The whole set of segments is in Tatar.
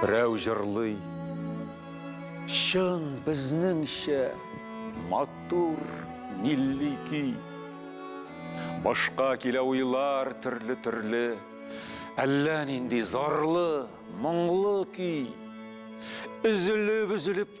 Берәү җырлый, чын безнеңчә матур милли көй. Башка килә уйлар төрле-төрле, әллә нинди зарлы, моңлы көй. Өзелеп-өзелеп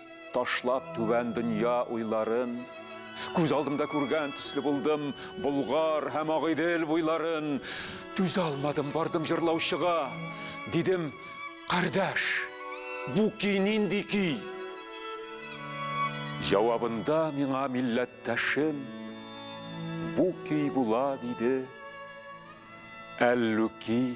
Ташлап түбән дөнья уйларын, Күз алдымда күргән төсле булдым Болгар һәм Агыйдел буйларын. Түзә алмадым, бардым җырлаучыга, Дидем, кардәш, бу көй нинди көй? Җавабында миңа милләттәшем, Бу көй була, диде, Әллүки.